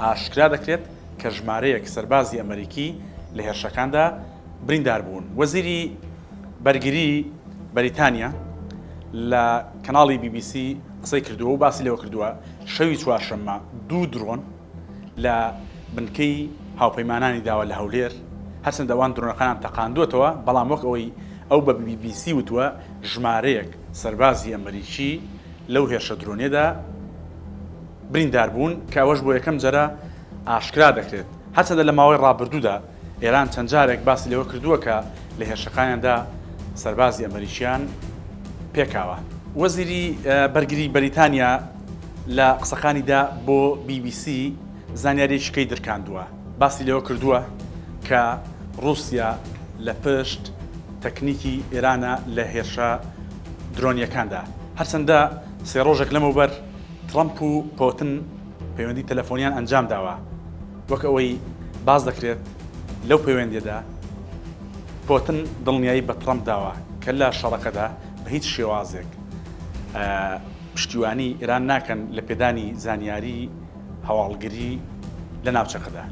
ئاشکرا دەکرێت کە ژمارەیەک سەربازی ئەمەریکی لە هێرشەکاندا بریندار بوون. وەزیری بەرگری بەریتانیا لە کەناڵی بی بی سی قسەی کردووە و باسی لەوە کردووە، شەوی چوارشەممە دوو درۆن لە بنکەی هاوپەیمانانی داوە لە هەولێر، هەرچەندە ئەوان درۆنەکانیان تەقاندووەتەوە، بەڵام وەک ئەوەی ئەو بە بی بی سی وتووە، ژمارەیەک سەربازی ئەمەریکی لەو هێرشە درۆنیەدا. بریندار بوون کە ئەوەش بۆ یەکەم جەرە ئاشکرا دەکرێت. هەرچەندە لە ماوەی ڕابردوودا ئێران چەند جارێک باسی لەوە کردووە کە لە هێرشەکانیاندا سەربازی ئەمەریکیان پێکاوە. وەزیری بەرگری بەریتانیا لە قسەکانیدا بۆ بی بی سی زانیاریەکی کەی درکاندووە باسی لەوە کردووە کە ڕووسیا لە پشت تەکنیکی ئێرانە لە هێرشە درۆنیەکاندا. هەرچەندە سێ ڕۆژێک لەمەوبەر، ترەمپ و پۆتن پەیوەندی تەلەفۆنیان ئەنجامداوە، وەک ئەوەی باس دەکرێت لەو پەیوەندیەدا پۆتن دڵنیایی بە ترەمپ داوە کە لە شەڕەکەدا بە هیچ شێوازێک پشتیوانی ئێران ناکەن لە پێدانی زانیاری هەواڵگری لە ناوچەکەدا.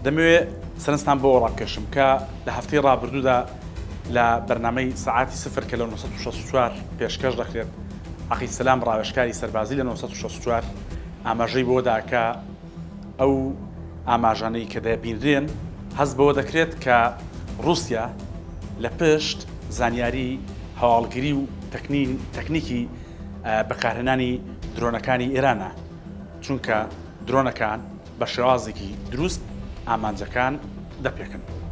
دەمەوێت سەرنجتان بەوە ڕابکێشم کە لە هەفتەی ڕابردوودا لە بەرنامەی سەعاتی سفر کە لە نۆ سەد و شەست و چوار پێشکەش دەکرێت، عەقید سەلام ڕاوێژکاری سەربازی لە نۆ سەد و شەست و چوار ئاماژەی بەوە دا کە ئەو ئاماژانەی کە دەبینرێن هەست بەوە دەکرێت کە ڕووسیا لە پشت زانیاری هەواڵگری و تەکنیکی بەکارهێنانی درۆنەکانی ئێرانە چونکە درۆنەکان بە شێوازێکی دروست ئامانجەکان دەپێکن.